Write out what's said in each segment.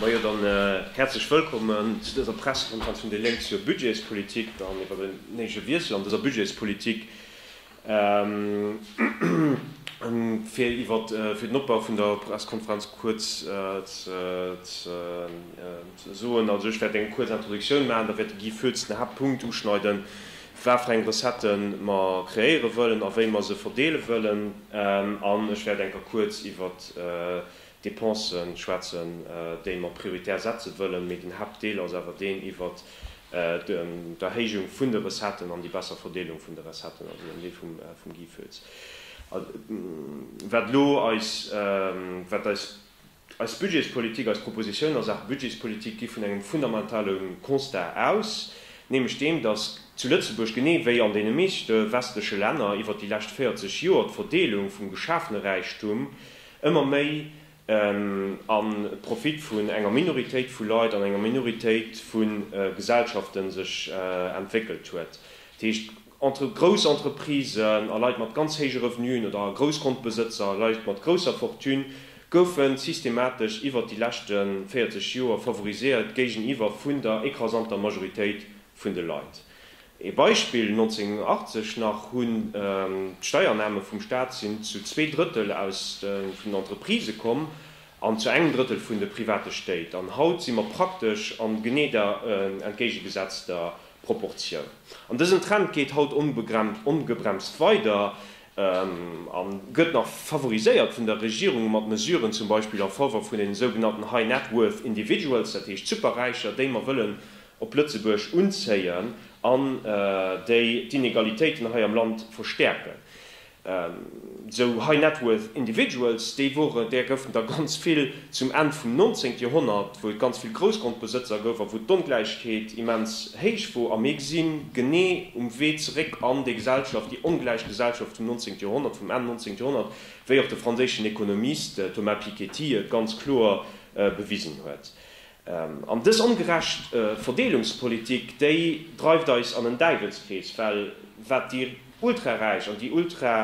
Majo, dann häerzlech wëllkommen zu dëser Pressekonferenz vun déi Lénk zur Budgetspolitik an iwwer den néige Wiessel an dëser Budgetspolitik fir iwwer fir den Opbau vun der Pressekonferenz kuerz ze soen. Also ech wäert eng kuerz Introductioun maachen, da wäert de Guy Foetz den Haaptpunkt uschneiden, waarfir eng Recettë mer kreéiere wëllen a wéi mer se verdeele wëllen an ech wäert enker kuerz iwwer Depensen schwätzen, déi mer prioritär setzen wëllen, mee den Haaptdeel ass awer deen iwwer d'Erhéijung vun de Recetten an déi besser Verdeelung vun de Recetten, also den Deel vum Guy Foetz. Wat elo eis, wat eis Budgetspolitik, eis Propositionen a Saache Budgetspolitik gi vun engem fundamentale Constat aus, nämlech deem, dass zu Lëtzebuerg, genee wéi an deene meeschte westleche Länner, iwwer déi lescht 40 Joer d'Verdeelung vum geschafene Räichtum, ëmmer méi am Profit vun enger Minoritéit vu Leit an enger Minoritéit vu Gesellschaften sech entwéckelt huet. Dat heescht, entre grouss Entreprisen a Leit mat ganz héije Revenuen oder Groussgrondbesëtzer, Leit mat grousser Fortune goufe systematesch iwwert déi leschte 40 Joer favoriséiert géigeniwwer vun der écrasanter Majoritéit vun de Leit. Ee Beispill, 1980 nach hunn d'Steiername vum Staat sinn zu zwee Drëttel aus vun den Entreprisë komm an zu engem Drëttel vun de private Stéit. An haut si mer praktesch an genee der entgéigegesetzter Proportioun. An dësen Trend geet haut ongebremst weider a gëtt nach favoriséiert vun der Regierung mat Mesuren zum Beispill a Faveur vun den esougenannten High Net Worth Individuals, dat heescht Superräicher, déi mer wëllen op Lëtzebuerg unzéien an déi d'Inegalitéiten hei am Land verstäerken. Sou high net worth individuals, déi wore, där goufen der ganz vill zum Enn vum 19 Joerhonnert, wou et ganz vill Groussgrondbesëtzer gouf a wou d'Ongläichheet immens héich wor. A mir gesi genee um Wee zeréck an déi Gesellschaft, déi ongläich Gesellschaft vum 19 Joerhonnert, vum Enn 19 Joerhonnert, wéi och de franséischen Ekonomist Thomas Piketty et ganz kloer bewisen huet. An dës ongerecht Verdeelungspolitik, déi dreift eis an en Däiwelskrees, well wat déi Ultraräich an déi Ultra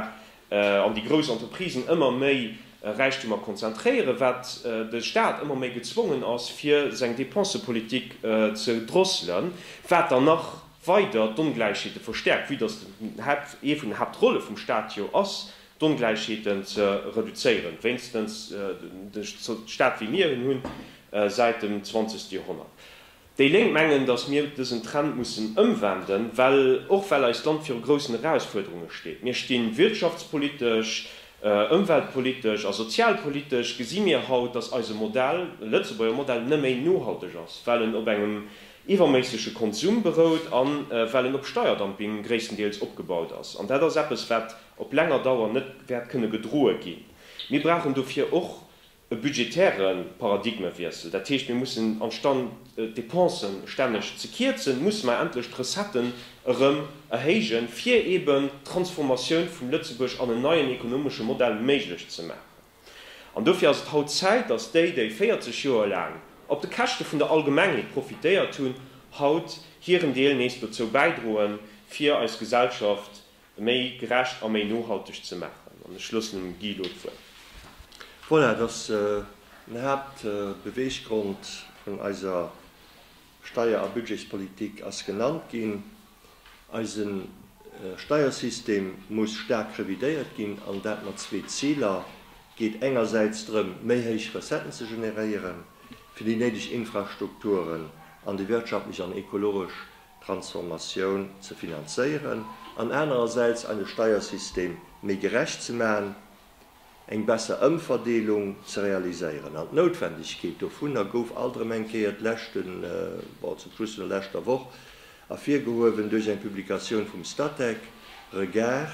an déi grouss Entreprisen ëmmer méi Räichtemer konzentréieren, wat de Staat ëmmer méi gezwongen ass, fir seng Dépensepolitik ze drosselen, wat dann nach weider d'Ongläichheete verstäerkt, vue dass dat ee vun den Haaptrolle vum Staat jo ass, d'Ongläichheeten ze reduzéieren, wéinstens duerch esou Staat wéi mir en hunn, säit dem zwanzegste Joerhonnert. Déi Lénk mengen, datt mir dësen Trend mussen ëmwenden, well och well eist Land viru groussen Erausfuerderunge steet. Mir stinn wirtschaftspolitesch, ëmweltpolitesch a sozialpolitesch gesi mir haut, datt eise Modell, de Lëtzebuerger Modell, nëméi nohalteg ass, well en op engem iwwerméissege Konsum berout an well en op Steierdumping gréisstendeels opgebaut ass. An dat ass eppes, wat. op länger Dauer net wäert kënne gedroe ginn. Mir brauchen dofir och e budgetäre Paradigmewiessel. Dat heescht, mir mussen amstand d'Depensen stänneg ze kierzen, musse mer endlech d'Recetten erëm erhéijen, fir eeben d'Transformatioun vum Lëtzebuerg an en neien ekonomesche Modell méiglech ze maachen. An dofir ass et haut Zäit, datt déi, déi 40 Joer laang op de Käschte vun der Allgemengheet profitéiert hunn, haut hiren Deel nees dozou bäidroen, fir eis Gesellschaft méi gerecht a méi nohalteg ze maachen. An ech loossen dem Guy elo d'Wuert. Voilà, et ass den Haaptbeweeggrond vun eiser Steier a Budgetspolitik ass genannt ginn. Eise Steiersystem muss staark revidéiert ginn, an dat mat zwee Ziler. Et geet engersäits drëm, méi héich Recetten ze generéieren, fir déi néideg Infrastrukturen an déi wirtschaftlech an ekologesch Transformatioun ze finanzéieren an anerersäits eise Steiersystem méi gerecht ze maachen, eng besser Ëmverdeelung ze realiséieren. An d'Noutwendegkeet dovunner gouf alt erëm eng Kéier d'leschten, bon, zum Schluss vun der leschter Woch ervirgehuewen duerch eng Publikatioun vum Statec Regard,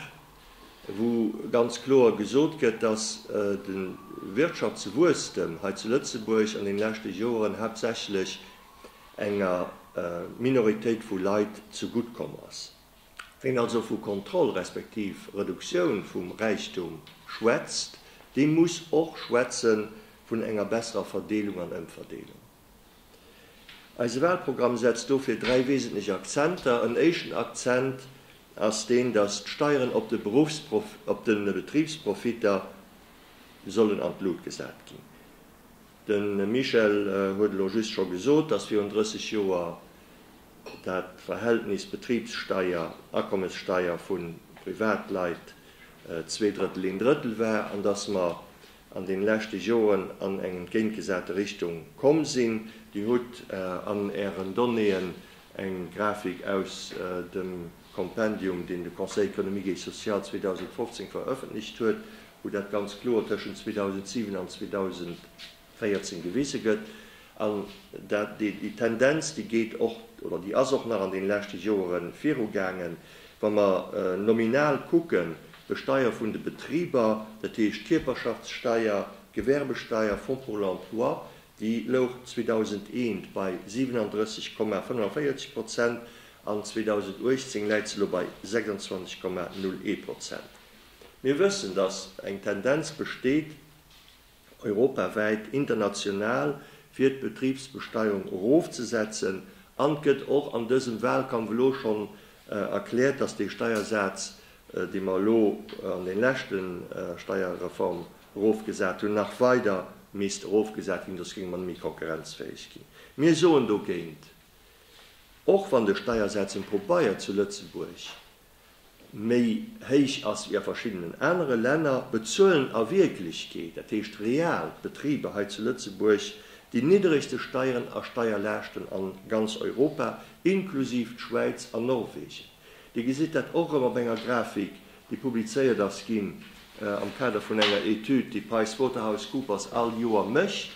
wou ganz kloer gesot gëtt, dass de Wirtschaftswuesstem hei zu Lëtzebuerg an deene leschte Joren haaptsächlech enger Minoritéit vu Leit zu gutt komm ass. Ween also vu Kontroll respektiv Reduktioun vum Räichtum schwätzt, dee muss och schwätze vun enger besserer Verdeelung an Ëmverdeelung. Eise Wahlprogramm setzt dofir dräi wesentlech Akzenter. En éischten Akzent ass deen, datt d'Steieren op de Beruffsprof, op de Betribsprofitter sollen an d'Lut gesat ginn. De Michel huet elo just scho gesot, dass virun 30 Joer dat Verhältnis Betribssteier, Akommessteier vu Privatleit zwee Drëttel, een Drëttel war an dass mer an deene leschte Joren an eng entgéintgesate Richtung komm sinn. Dir hutt an Ären Donnéeën eng Grafik aus dem. Kompendium, deen de Conseil économique et social 2015 verëffentlecht huet, wou dat ganz kloer tëschent 2007 an 2014 gewise gëtt. An dat, déi Tendenz, déi geet och, oder déi ass och nach an deene leschte Joere virugaangen, wa mer nominal kucken, Besteier vun de Betriber, dat heescht Kierperschaftssteier, Gewerbesteier, Fonds pour l'emploi, Déi louch 2001 bei 37,45 Prozent an 2018 läit se elo bei 26,01 Prozent. Mir wëssen, datt eng Tendenz besteet europawäit, international, fir d'Betribsbesteierung erofzesetzen an et gëtt och an dësem Wahlkampf elo schonn erkläert, datt dee Steiersaz, dee mer elo an de leschte Steierreform erofgesat hunn, nach weider misst erofgesat ginn, soss géinge mer net méi konkurrenzfäeg ginn. Mir soen dogéint, och wann de Steiersaz um Pobeier zu Lëtzebuerg méi héich ass wéi a verschiddenen anere Länner, bezuelen a Wierklechkeet, dat heescht real, d'Betriber hei zu Lëtzebuerg déi niddregste Steieren a Steierlaaschten a ganz Europa, inklusiv d'Schwäiz an Norwegen. Dir gesitt dat och erëm op enger Grafik, déi publizéiert ass ginn am Kader vun enger Etüd, déi PricewaterhouseCoopers all Joer mécht,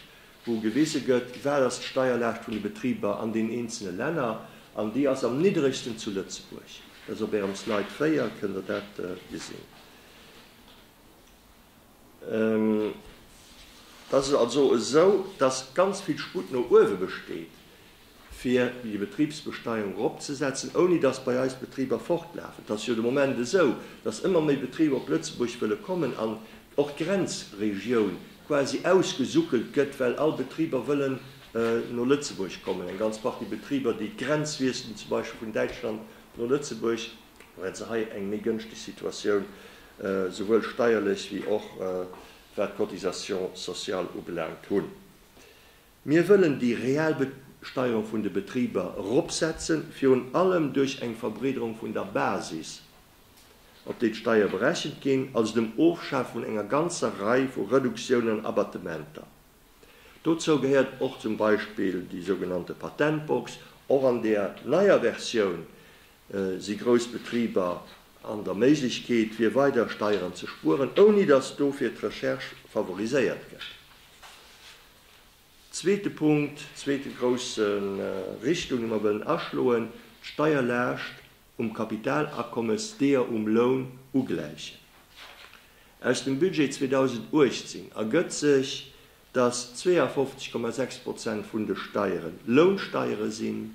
wou gewise gëtt, wat ass d'Steierlaascht vun de Betriber an den eenzele Länner. An déi ass am nidderegsten zu Lëtzebuerg. Dat ass op Ärem Slide 4, kënnt Der dat gesinn. Et ass also esou, dass ganz vill Sputt no uewe besteet, fir déi Betribsbesteuerung eropzesetzen, ouni dass bei eis d'Betriber fortlafen. Et ass jo de Moment esou, dass ëmmer méi Betriber op Lëtzebuerg wëlle kommen an och d'Grenzregioun quasi ausgesuckelt gëtt, well all Betriber wëllen no Lëtzebuerg kommen. Eng ganz Partie Betriber, déi d'Grenz wiesselen, zum Beispill vun Däitschland no Lëtzebuerg, Mir hätte hei eng méi gënschteg Situatioun, souwuel steierlech wéi och wat d'Cotisation sociale ubelaangt. Hunn mir wëllen déi real Besteuerung vun de Betriber eropsetzen, virun allem duerch eng Verbreederung vun der Basis, op déi d'Steier berechent ginn, also dem Ofschaf vun enger ganzer Rei vu Reduktiounen an Abattementer. Dozou gehéiert och zum Beispill déi sougenannte Patentbox. Och an där neier Versioun Si grouss Betriber an der Méiglechkeet, fir weider Steieren ze spueren, ouni datt dofir d'Recherche favoriséiert gëtt? Zweete Punkt, zweete grousse Richtung, déi mer wëllen aschloen, d'Steierlaascht um Kapitalakommes deeër um Loun ugläichen. Aus dem Budget 2018 ergëtt sech, datt 52,6 Prozent vun de Steieren Lounsteiere sinn,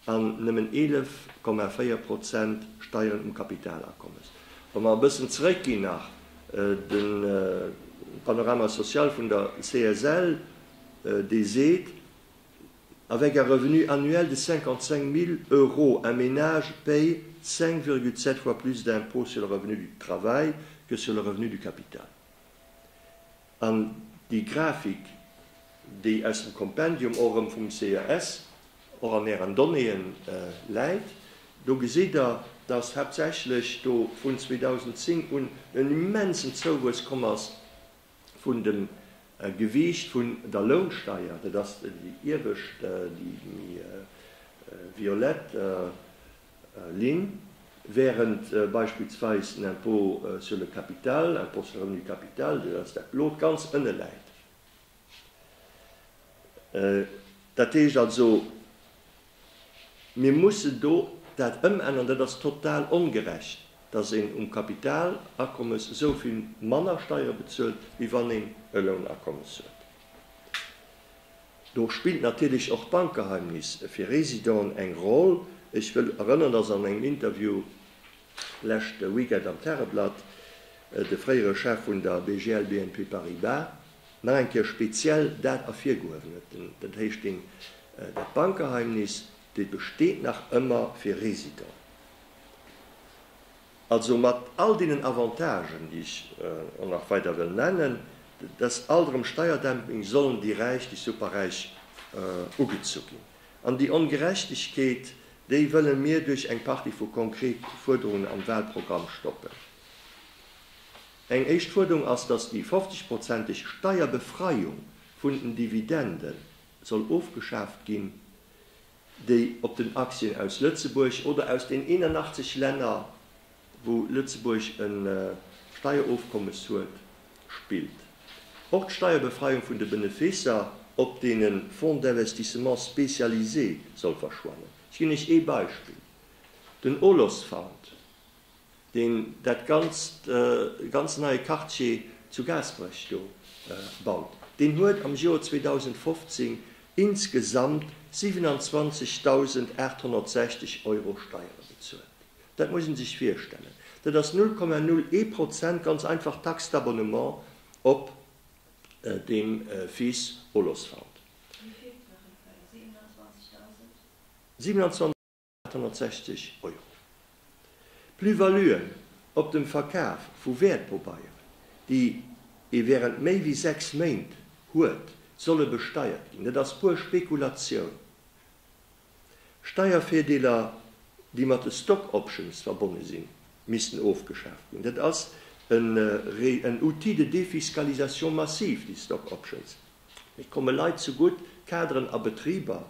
an nëmmen 11,4 Prozent Steieren um Kapitalakommes. Wa mer e bëssen zeréckginn nach, de Panorama social vun der CSL, dee seet, Avec un revenu annuel de 55 000 euros, un ménage paie 5,7 fois plus d'impôts sur le revenu du travail que sur le revenu du capital. An déi Grafik, déi aus dem Kompendium och erëm vum CES och an Ären Donnéeën läit, do gesitt Der, dass haaptsächlech do vun 2010 un en immensen Zouwuess komm ass vun dem Gewiicht vun der Lounsteier, dat ass déi iewescht, déi méi violett Linn, wärend beispillsweis den Impôt sur le capital, Impôt sur le revenu du capital, deen als dat blot ganz ënne läit. Dat heescht also, mir mussen do dat ëmänneren. Dat ass total ongerecht, dass een um Kapitalakommes esou vill manner Steiere bezuelt, wéi wann een e Lounakommes huet. Do spillt natierlech och d'Bankgeheimnis fir Residenten eng Roll. Ech wëll erënnern, dass an engem Interview leschte Weekend am Tageblatt de fréiere Chef vun der BGL BNP Paribas nach eng Kéier speziell dat ervirgehuewen huet, den Hastings, dat Bankgeheimnis, dat besteet nach ëmmer fir Residenten. Also mat all deenen Avantagen, déi ech och nach weider wëll nennen, dass alt erëm Steierdumping, sollen déi Räich, déi superräich, ugezu ginn. An déi Ongerechtegkeet, déi wëlle mir duerch eng Partie vu konkrete Fuerderungen am Wahlprogramm stoppen. Eng éischt Fuerderung ass, dass déi 50 prozenteg Steierbefreiung vun den Dividende soll ofgeschaaft ginn. déi op den Aktien aus Lëtzebuerg oder aus den 81 Länner, wou Lëtzebuerg e Steierofkommes huet, spillt. Och d'Steierbefreiung vun de Benefisser op deene Fonds d'investissement spécialisé soll verschwannen. Ech ginn Iech ee Beispill, den Olos Fund. deen dat ganzt ganz neie Quartier zu Gaasperech do baut, deen huet am Joer 2015 insgesamt 27.860 Euro Steiere bezuelt. Dat muss ee sech virstellen, dat ass 0,01 Prozent, ganz einfach d'Taxe d'abonnement op deem Fils Olosfant. Wéi vill? 27.000? 860 Euro. Plus-valuen op dem Verkaf vu Wäertpobeieren, déi ee während méi wéi sechs Méint huet, solle besteiert ginn. Dat ass puer Spekulatioun. Steiervirdeeler, déi mat de Stock Options verbonne sinn, missten ofgeschaaft ginn. Dat ass en Outil de défiscalisation massive, déi Stock Options. Et komme Leit zugutt, Kaderen a Betriber,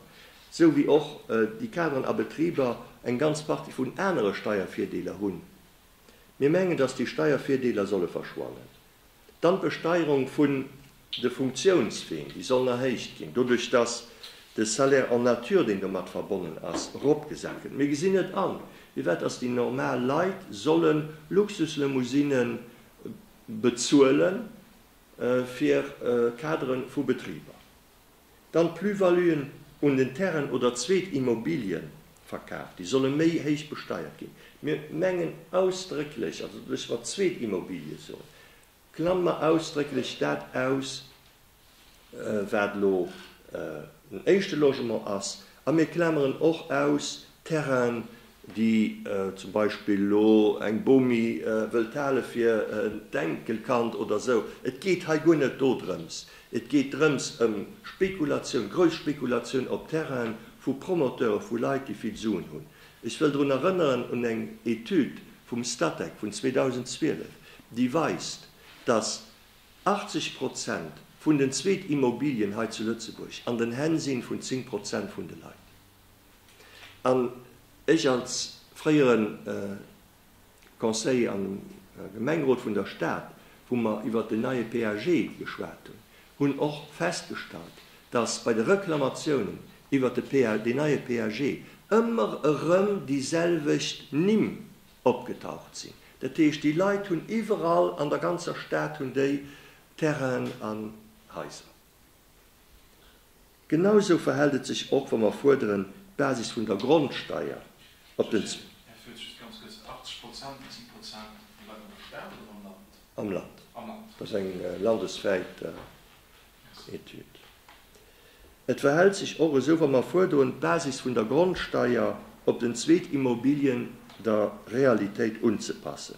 sou wéi och déi Kaderen a Betriber eng ganz Partie vun anere Steiervirdeeler hunn. Mir mengen, datt déi Steiervirdeeler solle verschwannen. Dann d'Besteierung vun de Funktiounsween, déi sollen erhéicht ginn, doduerch datt de Salaire en nature, deen domat verbonnen ass, eropgesat gëtt. Mir gesinn net an, firwat datt déi normal Leit solle Luxuslimousine bezuelen. fir Kadere vu Betriber, dann d'Plus-valuen un den Terrainen oder zweet Immobilien verkaaft ginn, solle méi héich besteiert ginn. Mir mengen ausdrécklech, also dass mer zweet Immobilie soen, klammen mer ausdrécklech dat aus, wat elo den éischte Logement ass, a mir klameren och aus, Terrainen, déi zum Beispill elo eng Bomi wëllt hale fir d'Enkelkand oder esou. Et geet hei guer net dodrëms. Et geet drëms ëm Spekulatioun, grouss Spekulatioun op Terrainen vu Promoteure, vu Leit, déi vill Suen hunn. Ech wëll drun erënneren un eng Etüd vum Statec vun 2012, déi weist, dass 80 Prozent vun den Zweetimmobilien hei zu Lëtzebuerg an den Hänn si vun 10 Prozent vun de Leit. An ech als fréiere Conseiller am Gemengerot vun der Stad, wou mer iwwert den neie PAG geschwat hunn, hunn och festgestallt, dass bei de Reklamatiounen iwwert de neie PAG ëmmer erëm déi selwecht Nimm opgetaucht sinn. Dat heescht, déi Leit hunn iwwerall an der ganzer Stad hunn déi Terrainen an Haiser. Genau esou verhält et sech och, wa mer fuerderen, d'Basis vun der Grondsteier op den. Här Fritsch, just ganz kuerz, 80 Prozent, dat si Prozent, déi bleiwen am Staat oder am Land? Am Land. Am Land. Dat ass eng landeswäit Etüd. Et verhält sech och esou, wa mer fuerderen, d'Basis vun der Grondsteier op den zweet Immobilien der Realitéit unzepassen.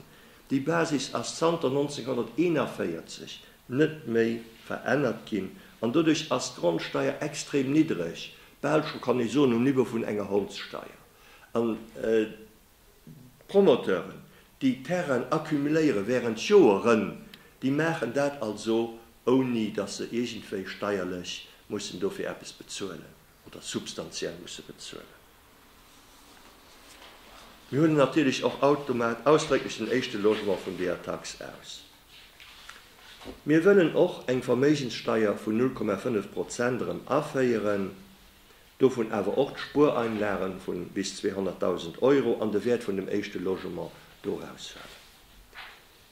Déi Basis ass zanter 1941 net méi verännert ginn an doduerch ass d'Grondsteier extrem niddreg, bal scho kann ee soen um Niveau vun enger Hondssteier. An d'Promoteuren, déi Terrainen accumuléiere während Joeren, déi maachen dat also ouni datt se iergendwéi steierlech mussen dofir eppes bezuelen oder substantiell musse bezuelen. Mir huelen natierlech och automat ausdrécklech den éischte Logement vun deeër Tax aus. Mir wëllen och eng Verméigenssteier vun 0,5 Prozent erëm aféieren, dovun awer och d'Spuereinlage vu bis 200.000 Euro an de Wäert vun dem éischte Logement dorausfalen.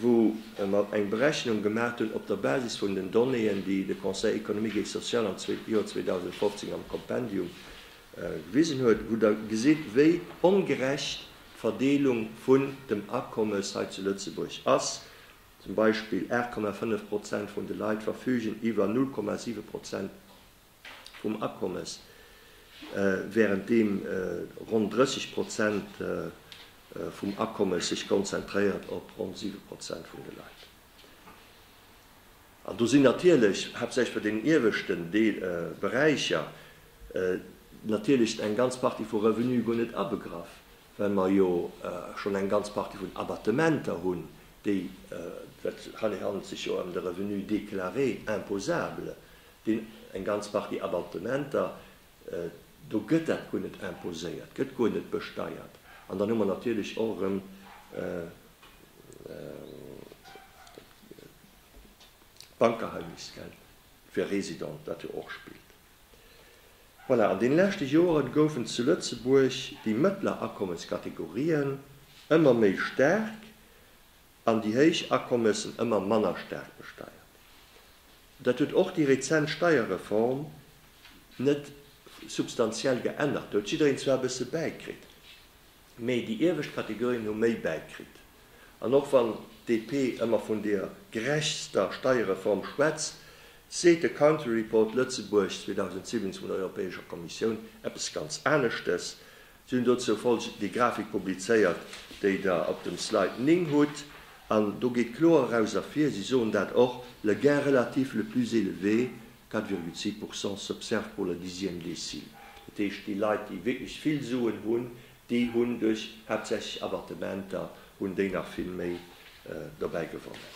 wou mer eng Berechnung gemaacht hunn op der Basis vun den Donnéeën, déi de Conseil économique et social am Joer 2015 am Kompendium gewisen huet, wou Der gesitt, wéi ongerecht d'Verdeelung vun dem Akommes hei zu Lëtzebuerg ass, zum Beispill 8,5 Prozent vun de Leit verfügen iwwer 0,7 Prozent vum Akommes, wärend deem ronn 30 Prozent vum Akommes sech konzentréiert op ronn 7 Prozent vun de Leit. An do sinn natierlech, haaptsächlech bei deenen ieweschten Beräicher, natierlech eng ganz Partie vu Revenue guer net abegraff, well mer jo schonn eng ganz Partie vun Abattementer hunn, déi, hei handelt et sech jo ëm de Revenu déclaré imposable, deen eng ganz Partie Abattementer, do gëtt dat guer net imposéiert, gëtt guer net besteiert. An dann hu mer natierlech och erëm d'Bankgeheimnis, gell, fir Residenten, wat jo och spillt. Voilà, an den leschte Joeren goufen zu Lëtzebuerg déi mëttler Akommenskategorien ëmmer méi staark an déi héich Akommessen ëmmer manner staark besteiert. Dat huet och déi rezent Steierreform net substantiell geännert. Do huet jiddereen zwar e bësse bäikritt. Mee déi iewescht Kategorien hu méi Bäik kritt. An och wann d'DP ëmmer vun der gerechtster Steierreform schwätzt, seet de Country Report Lëtzebuerg 2017 vun der Europäescher Kommissioun eppes ganz aneschtes. Si hunn dozou folgend déi Grafik publizéiert, déi Der op dem Slide 9 hutt. An do geet kloer eraus ervir, si soen dat och, le gain relatif le plus élevé 4,2 Pourcent s'observent pour la dixième décile. Dat heescht, déi Leit, déi wierklech vill Suen hunn, déi hunn duerch haaptsächlech Abattementer, hunn déi nach vill méi dobäi gewonnen.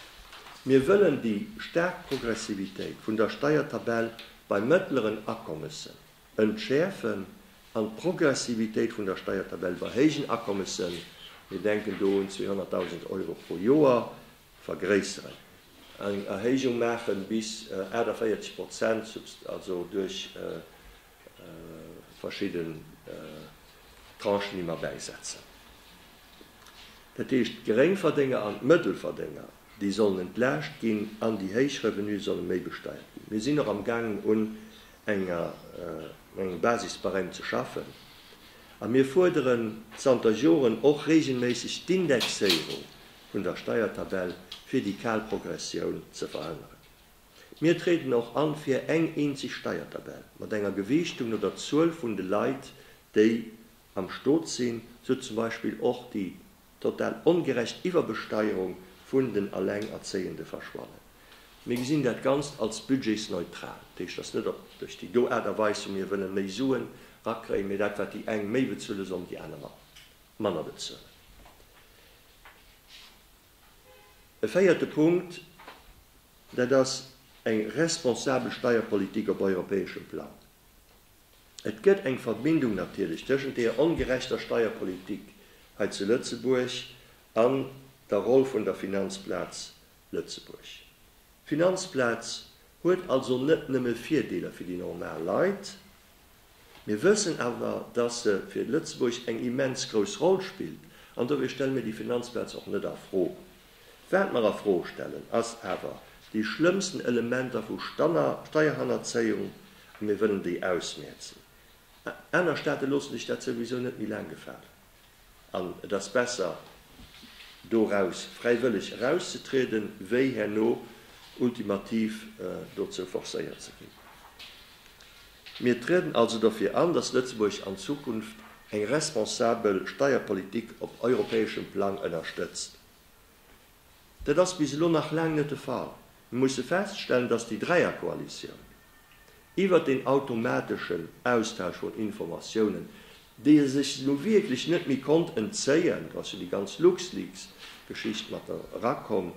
Mir wëllen déi staark Progressivitéit vun der Steiertabell bei mëttleren Akommessen entschäerfen an d'Progressivitéit vun der Steiertabell bei héijen Akommessen, mir denken do un 200.000 Euro pro Joer, Vergréisseren. Eng Erhéijung maache bis 48 Prozent, also duerch verschidden Tranchen ëmmer bäisetzen. Dat heescht, d'Geréngverdénger an d'Mëttelverdénger, déi sollen entlaascht ginn an déi héich Revenue solle méi besteiert ginn. Mir sinn och am gaangen un enger engem Basisbarème ze schaffen a mir fuerderen zanter Joren och reegelméisseg d'Indexéierung vun der Steiertabell fir déi kal Progressioun ze verhënneren. Mir tréden och an fir eng eenzeg Steiertabell mat enger Gewiichtung no der Zuel vun de Leit déi am Stot sinn, sou zum Beispill och déi total ongerecht Iwwerbesteierung vun den Allengerzéiende verschwannen. Mir gesinn dat Ganzt als budgetsneutral. Dat heescht, dass net op duerch déi do Aart a Weis wou mir wëllen méi Suen rakréien, mee dat wat déi eng méi bezuele sollen déi aner manner. manner bezuelen. E véierte Punkt, dat ass eng responsabel Steierpolitik op europäeschem Plang. Et gëtt eng Verbindung natierlech tëschent deer ongerechter Steierpolitik hei zu Lëtzebuerg an der Roll vun der Finanzplaz Lëtzebuerg. D'Finanzplaz huet also net nëmme Virdeeler fir déi normal Leit. Mir wëssen awer, dass se fir Lëtzebuerg eng immens grouss Roll spillt an dofir stelle mir déi Finanzplaz och net a Fro. Wat mer a Fro stellen, ass awer déi schlëmmsten Elementer vu Steierhannerzéiung a mir wëllen déi ausmierzen. Aner Staate loosse sech dat souwisou net méi laang gefalen. An et ass besser, doraus fräiwëlleg erauszetrieden, wéi herno ultimativ dozou forcéiert ze ginn. Mir trieden also dofir an, dass Lëtzebuerg an Zukunft eng responsabel Steierpolitik op europäeschem Plang ënnerstëtzt, Dat ass bis elo nach laang net de Fall. Mir musse feststellen, dass déi Dräierkoalitioun iwwert deen automateschen Austausch vun Informatiounen, déi e sech nu wierklech net méi konnt entzéien, do ass jo déi ganz Luxleaks-Geschicht mat erakomm,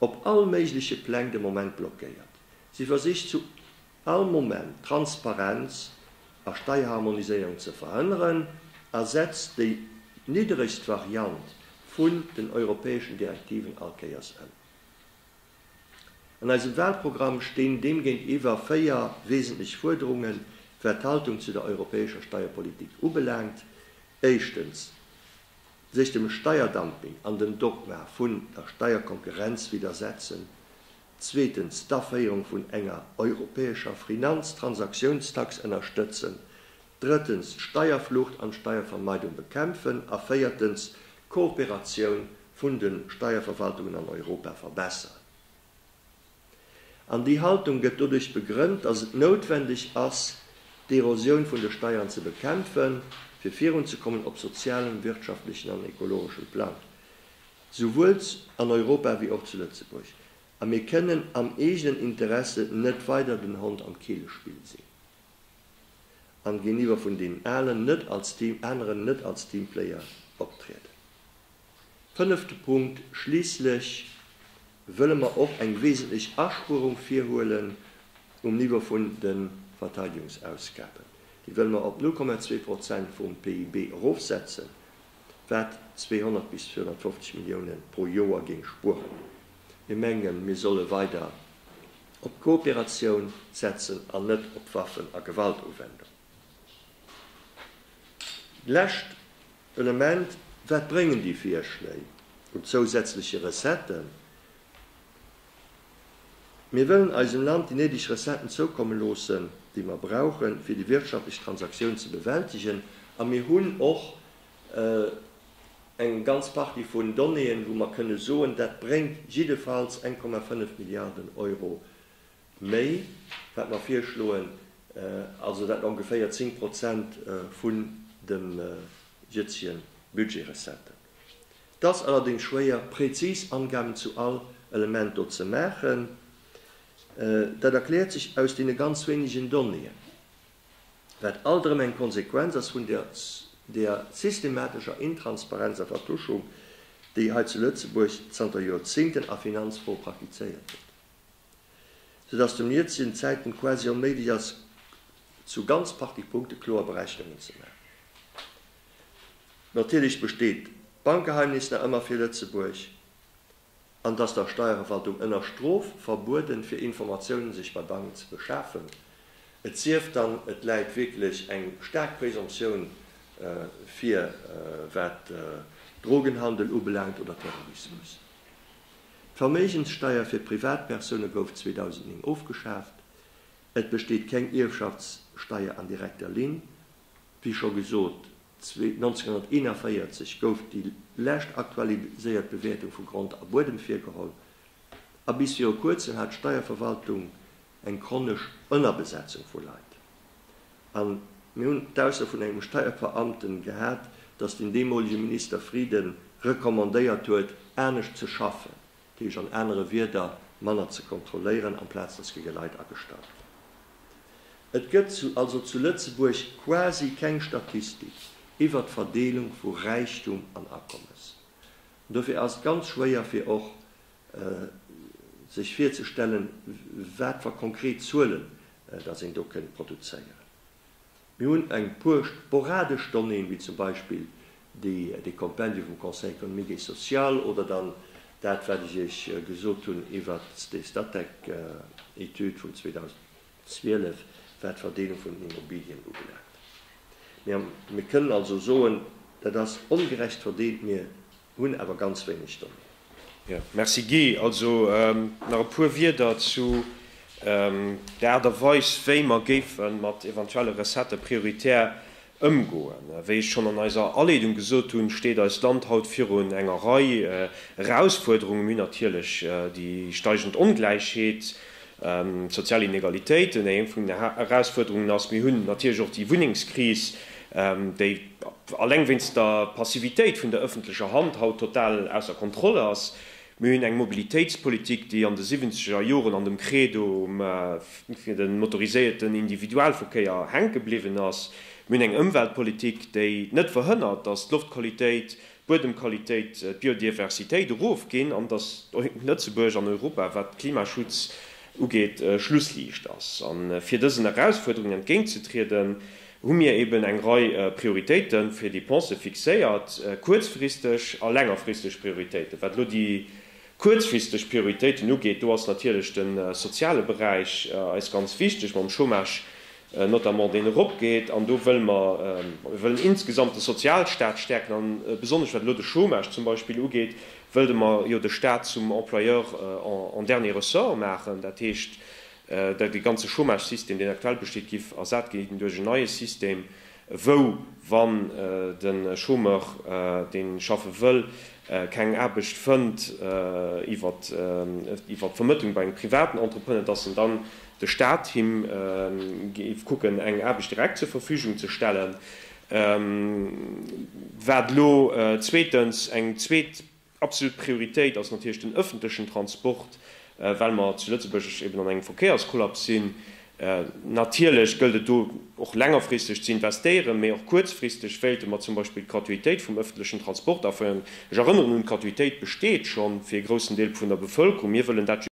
op all méigleche Pläng de Moment blockéiert. Si versicht zu All Moment d'Transparenz a Steierharmoniséierung ze verhënneren, ersetzt déi nidderegst Variant vun den europäeschen Direktiven allkéiers ëm. An eisem Wahlprogramm stinn deem géintiwwer véier wesentlech Fuerderungen, wat d'Haltung zu der europäescher Steierpolitik ubelaangt, Éischtens, sech dem Steierdumping an dem Dogma vun der Steierkonkurrenz widdersetzen, zweetens d'Aféierung vun enger europäescher Finanztransaktionstax ënnerstëtzen, drëttens d'Steierflucht an d'Steiervermeidung bekämpfen a véiertens d'Kooperatioun vun de Steierverwaltungen an Europa verbessern. An déi Haltung gëtt doduerch begrënnt, dass et noutwendeg ass, d'Erosioun vun de Steiern ze bekämpfen, fir virunzekommen op sozialem, wirtschaftlechen an ekologeschem Plang. souwuels an Europa wéi och zu Lëtzebuerg, a mir kënnen am eegenen Interesse net weider den Hond am Keelespill sinn an géintiwwer vun deenen alen net als Team, aneren net als Teamplayer optrieden. Fënnefte Punkt, schliisslech wëlle mer och eng wesentlech Aspuerung virhuelen um Niveau vun de Verteidigungsausgaben. Déi wëlle mer op 0,2 Prozent vum PIB erofsetzen, wat 200 bis 250 Milliounen pro Joer géing spueren. Mir mengen, mir solle weider op d'Kooperatioun setzen an net op Waffen a Gewaltuwendung. Lescht Element, Wat bréngen déi Virschléi un zousätzleche Recetten? Mir wëllen eisem Land déi néideg Recetten zoukomme loossen, déi mer brauchen, fir déi wirtschaftlech Transaktioun ze bewältigen. A mir hunn och eng ganz Partie vun Donnéeën, wou mer kënne soen, dat bréngt jiddefalls 1,5 Milliarden Euro méi, wat mer virschloen, also dat ongeféier 10 Prozent vun de Jötzjen Budgetrecetten. 't ass allerdéngs schwéier präzis Angaben zu all Element do ze maachen. Dat erkläert sech aus deene ganz wéinegen Donnéeën, wat alt erëm eng Konsequenz ass vun där systematescher Intransparenz a Vertuschung, déi hei zu Lëtzebuerg zanter Joerzéngten a Finanzfroe praktizéiert gëtt, sou dass zum jëtzegen Zäitpunkt quasi onméiglech ass, zu ganz parti Punkte kloer Berechnungen ze maachen. Natierlech besteet d'Bankgeheimnis nach ëmmer fir Lëtzebuerg an dass der Steierverwaltung ënner Strof verbueden fir Informatiounen sech bei Banken ze beschafen, et sief dann et läit wierklech eng staark Presomptioun vir wat Drogenhandel ubelaangt oder Terrorismus. D'Verméigenssteier fir Privatpersoune gouf 2009 ofgeschaaft. Et besteet keng Ierfschaftssteier an direkter Linn Wéi scho gesot, 1941 gouf déi lescht aktualiséiert Bewäertung vu Grond a Buedem virgeholl a bis viru kuerzem hat d'Steierverwaltung eng chronesch Ënnerbesetzung vu Leit. A mir hunn d'Ausso vun engem Steierbeamte gehat, datt den deemolege Minister Frieden recommandéiert huet, anescht ze schaffen. Dat heescht an anere Wierder, manner ze kontrolléieren, amplaz datt géige Leit agestallt ginn. Et gëtt also zu Lëtzebuerg quasi keng Statistik iwwert d'Verdeelung vu Räichtum an Akommes. An dofir ass et ganz schwéier fir och sech virzestellen, wat fir konkret Zuelen datt een do kënnt produzéieren. Mir hunn eng puer sporadesch Donnéeën, wéi zum Beispill dee Kompendium vum Conseil économique et social oder dann dat, wat ech Iech gesot hunn iwwert déi Statec-Etüd vun 2012, wat d'Verdeelung vun den Immobilien ubelaangt. Mir kënnen also soen, dat ass ongerecht verdeelt. Mir Hunn awer ganz wéineg Donnéeën. Jo, merci Guy. Also nach e puer Wieder zu der Aart a Weis, wéi mer géife mat eventuelle Recettë prioritär ëmgoen. Wéi ech schonn an eiser Aleedung gesot hunn, steet eist Land haut virun enger Rei Erausfuerderungen, wéi natierlech déi steigend Ongläichheet, D'sozial Inegalitéiten, déi eng vun den Herausfuerderungen ass. Mir hunn natierlech och déi Wunnengskris, déi alleng wéinst der Passivitéit vun der ëffentlecher Hand haut total ausser Kontroll ass. Mir hunn eng Mobilitéitspolitik, déi an de siwwenzeger Joren an dem Credo fir de motoriséierten Individualverkéier hänke bliwwen ass. Mir hunn eng Ëmweltpolitik, déi net verhënnert, datt d'Loftqualitéit d'Buedemqualitéit, d'Biodiversitéit erofginn an datt Lëtzebuerg an Europa, wat Klimaschutz ugeet, Schlussliicht ass. A fir dësen Erausfuerderungen entgéintzetrieden, hu mir eben eng Rei Prioritéite fir Depensë fixéiert, kuerzfristeg a längerfristeg Prioritéiten. Wat elo déi kuerzfristeg Prioritéiten ugeet, do ass natierlech de soziale Beräich eis ganz wichteg mam Chômage notamment deen eropgeet, an do wëlle mer, mir wëllen insgesamt de Sozialstaat stäerken, an besonnesch wat elo de Chômage zum Beispill ugeet, wëlle mer jo de Staat zum Employeur en dernier ressort maachen, dat heescht, datt dee ganze Chômagesystem, deen aktuell besteet, géif ersat ginn duerch en neie System. wou wann de Chômeur, dee schaffe wëll, keng Aarbecht fënnt iwwert d'Vermëttlung bei engem privaten Entrepreneur, dass en dann de Staat him géif kucken, eng Aarbecht direkt zur Verfügung ze stellen. Wat elo zweetens eng zweet Absolut Prioritéit ass natierlech den ëffentlechen Transport, well mer zu Lëtzebuerg eben an engem Verkéierskollaps sinn. Natierlech gëllt et do och längerfristeg ze investéieren, mee och kuerzfristeg wéilte mer zum Beispill d'Gratuitéit vum ëffentlechen Transport aféieren. Ech erënneren un, d'Gratuitéit besteet schonn fir e groussen Deel vun der Bevëlkerung. Mir wëllen dat just.